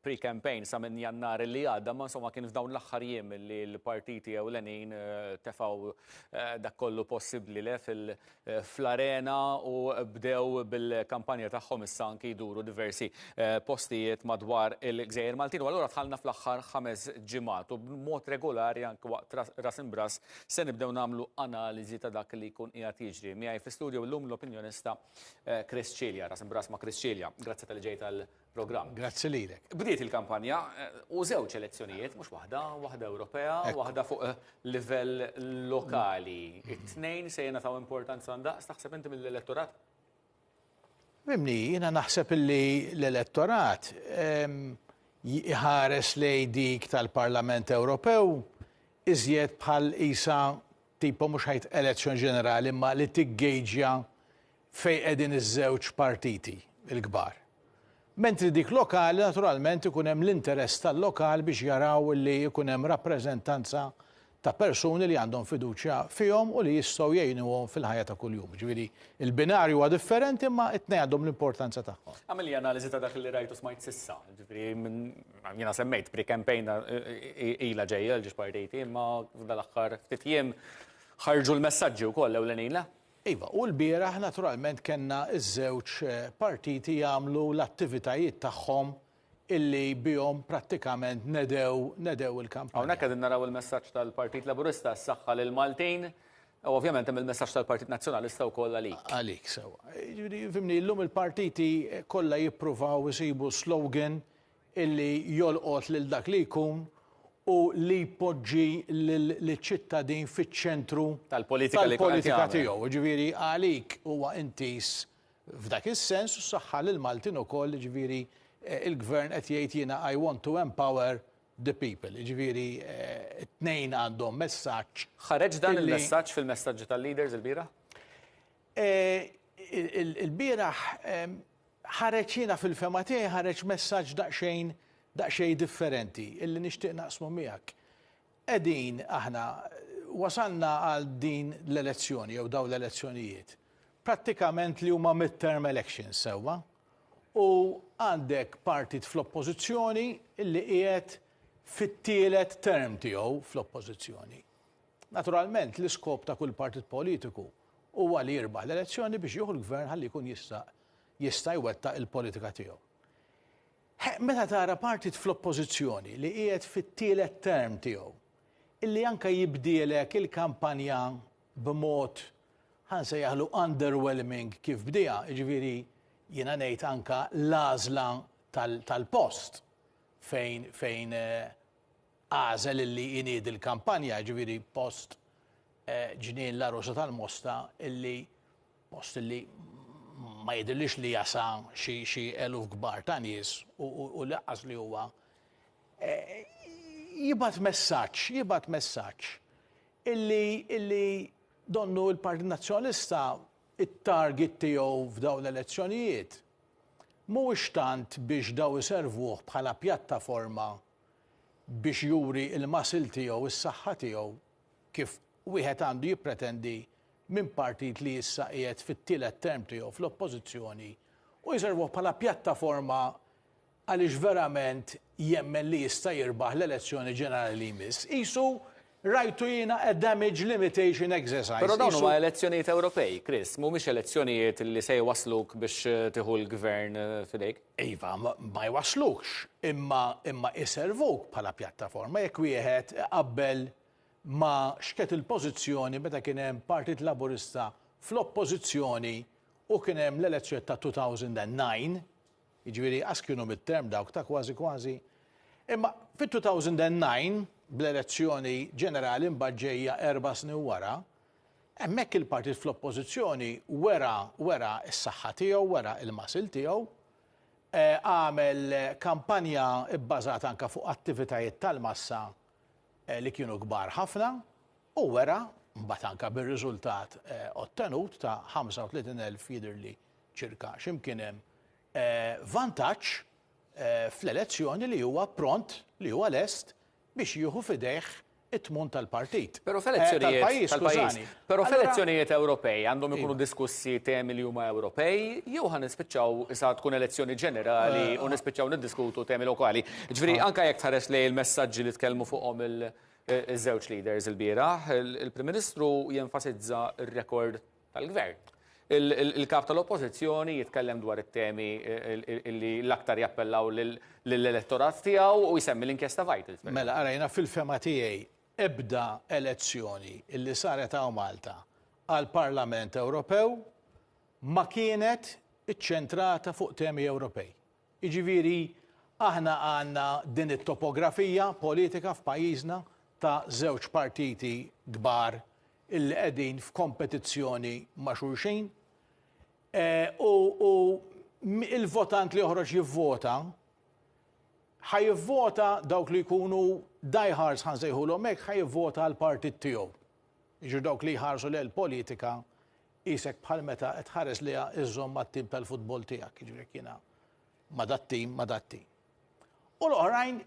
pre-campaign sa minn Jannar li għadda, imma insomma kien f'dawn l-aħħar jiem li l-partiti ewlenin tefgħu dak kollu possibbli le fl-arena u bdew bil-kampanja tagħhom issa anki jduru diversi postijiet madwar il-gżejjer Maltin. U allura dħalna fl-aħħar ħames ġimgħat u b'mod regolari anki waqt Ras Imb'Ras se nibdew nagħmlu analiżi ta' dak li jkun qiegħed jiġri. Miegħi fi studju llum l-opinjonista Chris Cilia. Ras Imb'Ras ma' Chris Cilia. Grazzi talli ġejt għal programm. Grazzi lilek. Bdiet il-kampanja u żewġ elezzjonijiet, mhux waħda, waħda Ewropea, waħda fuq livell lokali. It-tnejn se jingħataw importanza ndaqs taħseb inti mill-elettorat? Mimni, jiena naħseb li l-elettorat jħares lej dik tal-Parlament Ewropew iżjed bħal isa tipo mhux ħajt elezzjon ġenerali ma li tiggeġja fejn qegħdin iż-żewġ partiti l-kbar. Mentri dik lokali naturalment ikun hemm l-interess tal-lokal biex jaraw li jkun hemm rappreżentanza ta' persuni li għandhom fiduċja fihom u li jistgħu jgħinuhom fil-ħajja ta' kuljum. Ġifieri il-binarju huwa differenti imma t-tnejn għandhom l-importanza tagħhom. Għamel li analiżi ta' dak li rajt u smajt s'issa. Ġifieri jiena semmejt pre-campaign ilha ġejja l-ġiex partiti imma f'dan l-aħħar ftit jiem ħarġu l-messaġġi wkoll ewlenin le? Iva, u lbieraħ naturalment kellna ż-żewġ partiti jagħmlu l-attivitajiet tagħhom illi bihom prattikament nedew nedew il-kampanja. Hawnhekk qegħdin naraw il-messaġġ tal-Partit Laburista s-saħħa lill-Maltin, u ovvjament hemm il-messaġġ tal-Partit Nazzjonalista wkoll għalik. Għalik, sewwa. Jiġifieri fimni llum il-partiti kollha jippruvaw isibu slogan illi jolqot lil dak li jkun u li jpoġġi liċ-ċittadin fiċ-ċentru tal-politika tiegħu. Jiġifieri għalik huwa intiż f'dak is-sens u s-saħħa lill-Maltin ukoll, jiġifieri l-Gvern qed jgħid jiena I want to empower the people. Jiġifieri t-tnejn għandhom messaġġ. Ħareġ dan il-messaġġ fil-messaġġi tal-leaders ilbieraħ? Ilbieraħ ħareġ jiena fil-fehma tiegħi ħareġ messaġġ daqsxejn daqsxejn differenti illi nixtieq naqsmu miegħek. Qegħdin aħna wasalna għal din l-elezzjoni jew dawn l-elezzjonijiet prattikament li huma mid-term elections sewwa u għandek partit fl-oppożizzjoni illi qiegħed fit-tielet term tiegħu fl-oppożizzjoni. Naturalment l-iskop ta' kull partit politiku Huwa li jirbaħ l-elezzjoni biex jieħu l-Gvern ħalli jkun jista' jista' jwettaq il-politika tiegħu. Ħeqq meta tara partit fl-Oppożizzjoni li qiegħed fit-tielet term tiegħu illi anke jibdielek il-kampanja b'mod ħa nsejjaħlu underwhelming kif bdieha, jiġifieri jiena ngħid anke l-għażla tal-post fejn fejn Għażel illi jniedi l-kampanja, jiġifieri post Ġnien l-Għarusa tal-Mosta illi post illi ma jidhirlix li jasa xi eluf kbar ta' nies u laqqas li huwa jibgħat messaġġ, jibgħat messaġġ illi illi donnu l-Partit Nazzjonalista t-target tiegħu f'dawn l-elezzjonijiet mhuwiex tant biex daw iservuh bħala pjattaforma biex juri l-muscle tiegħu, is-saħħa tiegħu, kif wieħed għandu jippretendi minn partit li issa qiegħed fit-tielet term tiegħu fl-Oppożizzjoni u jservuh bħala pjattaforma għaliex verament jemmen li jista' jirbaħ l-elezzjoni ġenerali li jmiss. Qisu Rajtu jiena a damage limitation exercise. Però dawn huma elezzjonijiet Ewropej, Chris, mhumiex elezzjonijiet li se jwassluk biex tieħu l-gvern f'idejk. Iva, ma jwasslukx, imma imma iservuk bħala pjattaforma jekk wieħed iqabbel ma' x'kienet il-pożizzjoni meta kien hemm Partit Laburista fl-Oppożizzjoni u kien hemm l-elezzjonijiet ta' 2009, jiġifieri ask kienu mid-term dawk ta' kważi kważi. Imma fit-2009, bl-elezzjoni ġenerali mbagħad ġejja erba' snin wara, hemmhekk il-partit fl-Oppożizzjoni wera wera s-saħħa tiegħu, wera l-muscle tiegħu, għamel kampanja bbażata anke fuq attivitajiet tal-massa li kienu kbar ħafna u wera mbagħad anke bir-riżultat ottenut ta' 35,000 jidhirli Ċirka x'imkien hemm vantaġġ fl-elezzjoni li huwa pront, li huwa lest biex jieħu f'idejh it-tmun tal-partit. Però f'elezzjonijiet tal-pajjiż. Però f'elezzjonijiet Ewropej għandhom ikunu diskussi temi li huma Ewropej jew ħa nispiċċaw issa tkun elezzjoni ġenerali u nispiċċaw niddiskutu temi lokali. Ġifieri anke jekk tħares lejn il-messaġġi li tkellmu fuqhom il- Iż-żewġ leaders ilbieraħ, il-Prim Ministru jenfasizza r-rekord tal-Gvern. Il-Kap tal-Oppożizzjoni jitkellem dwar it-temi li l-aktar jappellaw lill-elettorat tiegħu u jsemmi l-inkjesta Vitals. Mela, ara jiena fil-fehma tiegħi ebda elezzjoni li saret hawn Malta għall-Parlament Ewropew ma kienet iċċentrata fuq temi Ewropej. Jiġifieri aħna għandna din it-topografija politika f'pajjiżna ta' żewġ partiti kbar illi qegħdin f'kompetizzjoni ma' xulxin u l-votant li joħroġ jivvota ħa jivvota dawk li jkunu diehards ħa nsejħulhom hekk ħa jivvota għal partit tiegħu. Jiġu dawk li jħarsu lejn politika isek bħal meta qed ħares li iżżomm mat-tim tal-futbol tiegħek, jiġri jiena ma dat-tim, ma dat-tim. U l-oħrajn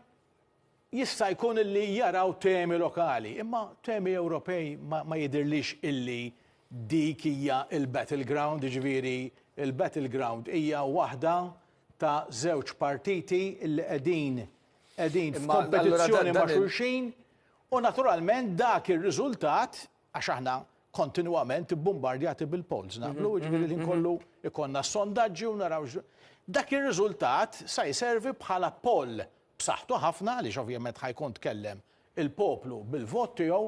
Jista' jkun illi jaraw temi lokali, imma temi Ewropej ma ma jidhirlix illi dik hija l-battle ground, jiġifieri l-battle ground hija waħda ta' żewġ partiti illi qegħdin qegħdin f'kompetizzjoni ma' xulxin u naturalment dak ir-riżultat, għax aħna kontinwament bbumbardjati bil-polls naqblu, jiġifieri l-ħin kollu jkollna s-sondaġġi u naraw dak ir-riżultat sa jservi bħala poll b'saħħtu ħafna għaliex ovvjament ħa jkun tkellem il-poplu bil-vot tiegħu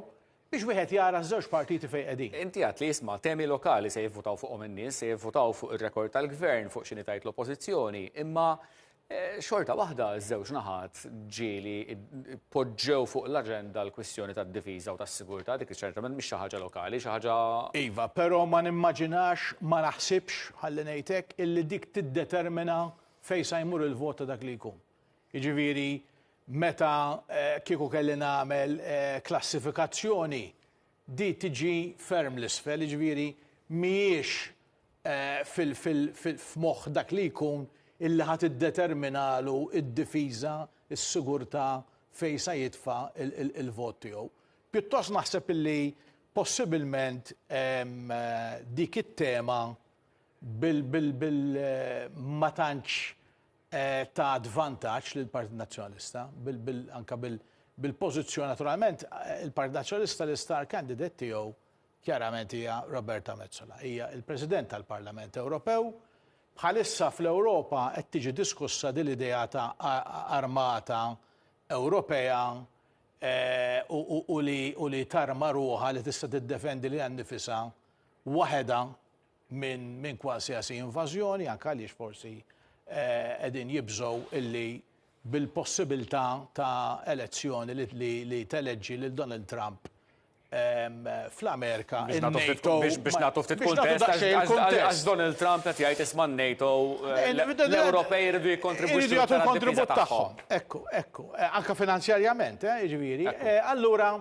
biex wieħed jara ż-żewġ partiti fejn qegħdin. Inti għedt li isma' temi lokali se jivvutaw fuqhom in-nies, se jivvutaw fuq ir-rekord tal-Gvern, fuq x'inhi tgħid l-Oppożizzjoni, imma eh, xorta waħda ż-żewġ naħat ġieli poġġew fuq l-aġenda l-kwistjoni tad-difiża u tas-sigurtà dik ċertament mhix xi ħaġa lokali, xi ħaġa Iva, però ma nimmaġinax, ma naħsibx, ħalli ngħidlek, illi dik tiddetermina Fejn sa jmur il-vot ta' dak li jkun? Jiġifieri meta kieku kelli nagħmel klassifikazzjoni di tiġi ferm l-isfel, jiġifieri mhijiex f'moħħ dak li jkun illi ħa tiddeterminalu d-difiża, is-sigurtà fejn sa jitfa' il-vot tiegħu. Pjuttost naħseb illi possibilment dik it-tema ma tantx tat vantaġġ lill-Partit Nazzjonalista, anke bil-pożizzjoni naturalment il-Partit Nazzjonalista l-istar candidate tiegħu kjarament hija Roberta Metsola. Hija l-President tal-Parlament Ewropew. Bħalissa fl-Ewropa qed tiġi diskussa din l-idea ta' armata Ewropea u li tarma ruħha li tista' tiddefendi lilha nnifisha waħedha minn kwalsiasi invażjoni, anke għaliex forsi qegħdin jibżgħu illi bil-possibilità ta' elezzjoni li teleġġi lil Donald Trump fl-Amerika, in-NATO. Biex nagħtu ftit kuntest, għax Donald Trump qed jgħid isma' n-NATO, l-Ewropej iridu jikkontribwixxu għall-kontribut tagħhom. Ekku, ekku, anke finanzjarjament, jiġifieri. Allura,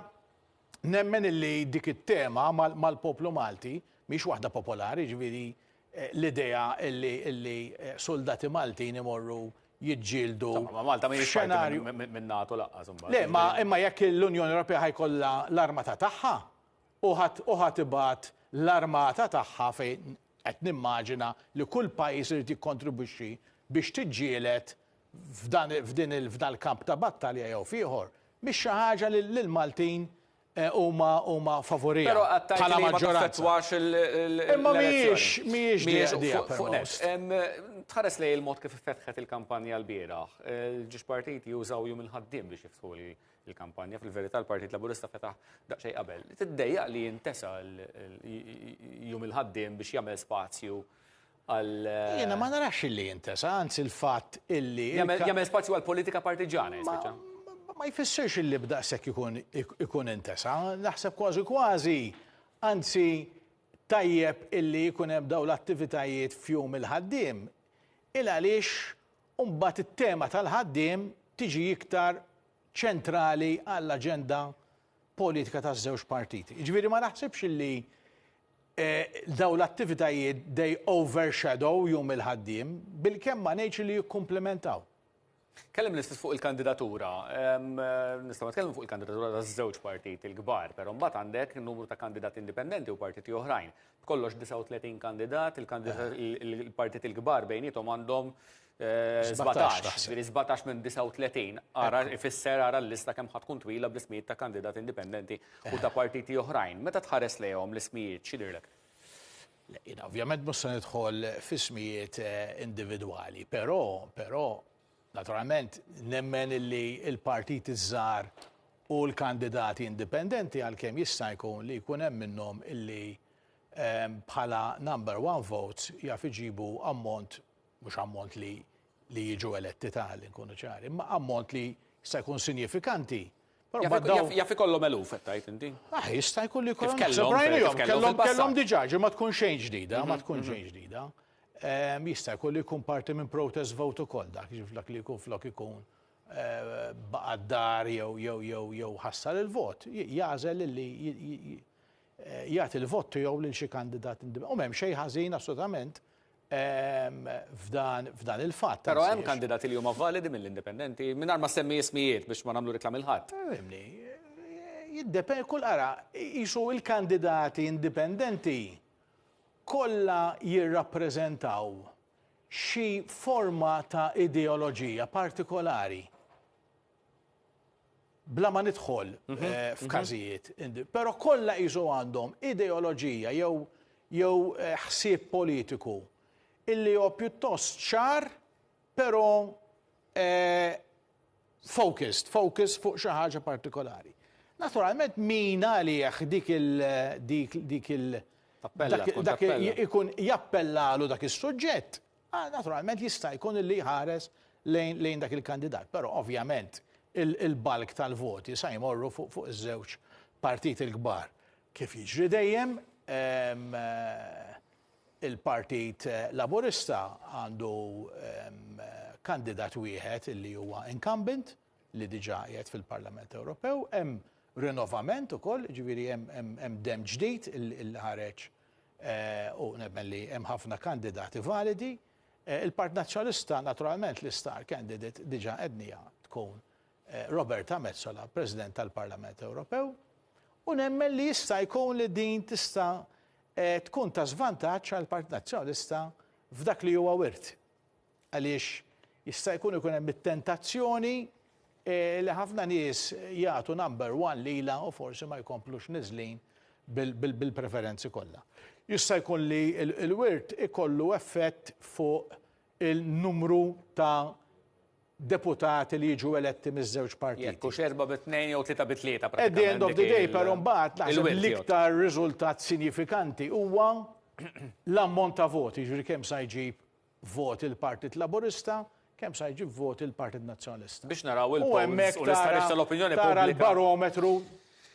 Nemmen illi dik it-tema mal-poplu Malti mhix waħda popolari, ġifieri eh, l-idea illi illi eh, soldati Maltin imorru jiġġieldu. Ma Malta ma xenarju minn NATO laqqas imbagħad. Le, ma imma jekk l-Unjoni Ewropea ħajkollha l-armata tagħha u ħadd ibgħat l-armata tagħha fejn qed nimmaġina li kull pajjiż irid jikkontribwixxi biex tiġġieled f'dan f'din il f'dan il-kamp ta' battalja jew f'ieħor mhix xi ħaġa li l-Maltin huma huma favuriha Però qatt tgħid bħala li ma maġġoranza. taffettwax il- il- Imma l-elezzjoni. mhijiex mhijiex Mhijiex diqa fuq- fuq net. permost. Em, Tħares lejn il-mod kif iffetħet il-kampanja l-bieraħ. Il-ġiex partiti jużaw Jum il-Ħaddiem biex jiftħu l- il-kampanja. Fil-verità l-Partit Laburista fetaħ daqsxejn qabel. Tiddejjaq li jintesa l- l- Jum il-Ħaddiem biex jagħmel spazju Jiena ma narax illi jintesa, anzi l-fatt illi. Jagħmel spazju għal politika partiġana, jispiċċa. Ma jfissirx illi b'daqshekk ikun intesa, naħseb kważi kważi, anzi tajjeb illi jkun hemm dawn l-attivitajiet f'jum il-ħaddiem, il għaliex imbagħad it-tema tal-ħaddiem tiġi iktar ċentrali għall-aġenda politika taż-żewġ partiti. Jiġifieri ma naħsibx illi Dawn l-attivitajiet they overshadow Jum il-Ħaddiem bilkemm ma ngħidx li jikkumplimentaw. Kellimt l-istess fuq il-kandidatura. Nistgħu nitkellmu fuq il-kandidatura ta' żewġ partiti l-kbar, però mbagħad għandek numru ta' kandidati indipendenti u partiti oħrajn. B'kollox 39 kandidat, il-kandidati il-partiti l-kbar bejniethom għandhom 17, ġifieri 17 minn 39, ara ifisser ara l-lista kemm ħadd tkun twila bl-ismijiet ta' kandidati indipendenti u ta' partiti oħrajn. Meta tħares lejhom l-ismijiet x'jidhirlek? Le, jiena ovvjament mhux se nidħol f'ismijiet individwali, però però naturalment nemmen li l-partiti ż-żgħar u l-kandidati indipendenti għalkemm jista' jkun li jkun hemm minnhom li bħala number one votes jaf iġibu ammont mhux ammont li li jiġu eletti ta' li nkunu ċari, imma ammont li jista' jkun sinjifikanti Jaf ikollhom eluf qed tgħid inti? Ah, jista' jkun li jkollhom naħseb rajnihom, kellhom kellhom diġà ma tkun xejn ġdida, ma mhm, tkun mhm. xejn ġdida. Ehm, jista' jkun li jkun parti minn protest vote ukoll dak, dak li jkun flok ikun eh, baqad dar jew jew jew jew ħassar il-vot, jagħżel li jagħti l-vot tiegħu lil xi kandidat indipendenti. U m'hemm xejn ħażin assolutament f'dan il-fatt. Però hemm kandidati li huma validi mill-indipendenti, mingħajr ma ssemmi ismijiet biex ma nagħmlu riklami 'l ħadd. Fimni, jiddependi, kull ara, qisu l-kandidati indipendenti kollha jirrappreżentaw xi forma ta' ideoloġija partikolari. bla ma nidħol f'każijiet, però kollha qisu għandhom ideoloġija jew jew ħsieb politiku illi hu pjuttost ċar però focused, focus fuq xi ħaġa partikolari. Naturalment min għalih dik il dik dik il Tappella, tkun tappella. ikun jappellalu dak is-suġġett, Ah, naturalment jista' jkun li jħares lejn, lejn dak il-kandidat, però ovvjament il-balk tal-voti sa jmorru fuq fuq iż-żewġ partiti l-kbar. Kif jiġri dejjem, ehm, il-Partit Laburista għandu ehm, kandidat wieħed li huwa incumbent li diġà qiegħed fil-Parlament Ewropew, hemm rinnovament ukoll, ġifieri hemm dem ġdid il-ħareġ u nemmen li hemm ħafna kandidati validi. Il-Partit Nazzjonalista naturalment l-istar candidate diġà għedniha tkun Roberta Metsola, President tal-Parlament Ewropew, u nemmen li jista' jkun li din tista' tkun ta' żvantaġġ għall-Partit Nazzjonalista f'dak li huwa wirt. Għaliex jista' jkun ikun hemm it-tentazzjoni li ħafna nies jagħtu number one lilha u forsi ma jkomplux niżlin bil-preferenzi kollha. Jista' jkun li l-wirt ikollu effett fuq il-numru ta' deputati li jiġu eletti miż-żewġ partiti. Jekk hux erbgħa bi tnejn jew tlieta bi tlieta pratikament. At the end of the day però mbagħad naħseb l-iktar riżultat sinjifikanti huwa l-ammont ta' voti, jiġifieri kemm sa jġib voti l-Partit Laburista, kemm sa jġib voti l-Partit Nazzjonalista. Biex naraw il-polls u l-istħarriġ tal-opinjoni pubblika. Tara l-barometru,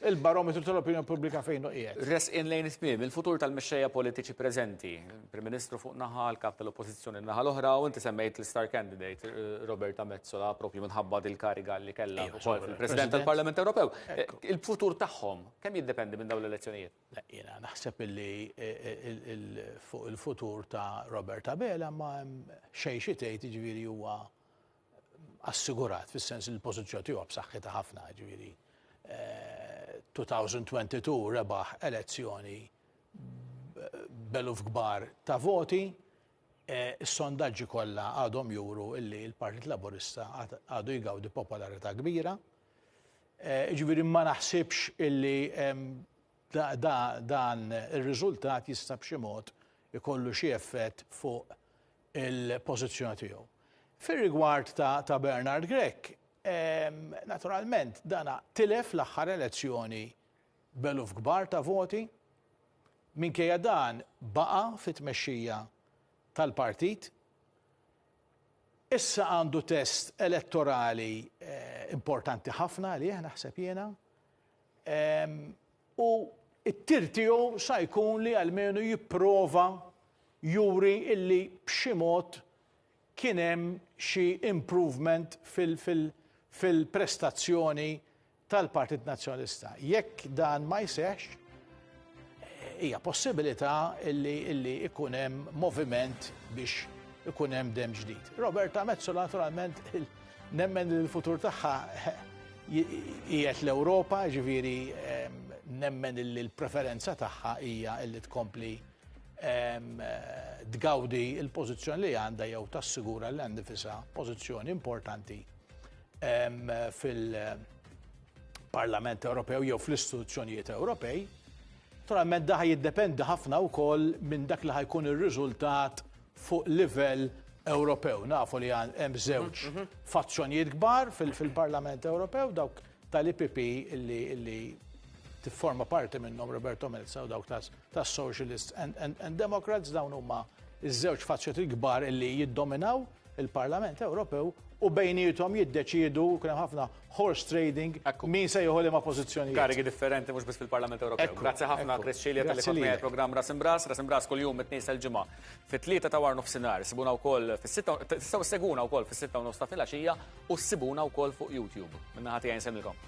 il-barometru tal-opinjoni pubblika fejn hu qiegħed. Resqin lejn it-tmiem, il-futur tal-mexxejja politiċi preżenti, il-Prim Ministru fuq naħa, l-Kap tal-Oppożizzjoni naħa l-oħra, u inti semmejt l-istar candidate eh, Roberta Mezzola propju minħabba dil-kariga li kellha wkoll fil-President tal-Parlament Ewropew. Eh, il-futur tagħhom kemm jiddependi minn dawn l-elezzjonijiet? Jiena naħseb illi fuq il-futur ta' Robert Abela ma hemm xejn xi tgħid, jiġifieri huwa assigurat fis-sens li l-pożizzjoni tiegħu b'saħħitha ħafna, jiġifieri 2022 rebaħ elezzjoni b'eluf kbar ta' voti, is-sondaġġi kollha għadhom juru illi l-Partit Laburista għadu jgawdi popolarità kbira, Jiġifieri ma naħsibx illi dan ir-riżultat jista' b'xi mod ikollu xi effett fuq il-pożizzjoni tiegħu. Fir-rigward ta' Bernard Grech, naturalment dan tilef l-aħħar elezzjoni b'eluf kbar ta' voti. Minkejja dan baqa' fit-tmexxija tal-partit. Issa għandu test elettorali importanti ħafna għalih naħseb jiena u t-tir tiegħu sa jkun li almenu jipprova juri illi b'xi mod kien hemm xi improvement fil-prestazzjoni tal-Partit Nazzjonalista. Jekk dan ma jseħħx, hija possibilità li ikun hemm moviment biex ikun hemm dem ġdid. Roberta Mezzola naturalment nemmen li l-futur tagħha qiegħed l-Ewropa, ġifieri nemmen li l-preferenza tagħha hija li tkompli tgawdi l-pożizzjoni li għandha jew tassigura li għandha nifisha pożizzjoni importanti fil-Parlament Ewropew jew fl-istituzzjonijiet Ewropej. Naturalment daħ jiddependi ħafna wkoll minn dak li ħajkun ir-riżultat fuq livell Ewropew. Nafu li hemm żewġ mhm, mhm. fazzjonijiet kbar fil-Parlament Ewropew dawk tal-IPP li tifforma parti minnhom Roberto Melza u dawk tas Socialists and, and, and Democrats dawn huma iż-żewġ fazzjonijiet kbar li jiddominaw il-Parlament Ewropew u bejniethom jiddeċiedu kien hemm ħafna horse trading min se jieħu liema pożizzjonijiet. Karigi differenti mhux biss fil-Parlament Ewropew. Grazzi ħafna Chris Cilia tal-li kont miegħi programm Ras Imbras, Ras Imbras kuljum it-tnejn sal-ġimgħa fit-tlieta ta' war nofsinhar. Sibuna wkoll fis-sitta tistgħu seguna wkoll fis-sitta u nofs ta' filgħaxija u ssibuna wkoll fuq YouTube. Minna ħati għajn semilkom.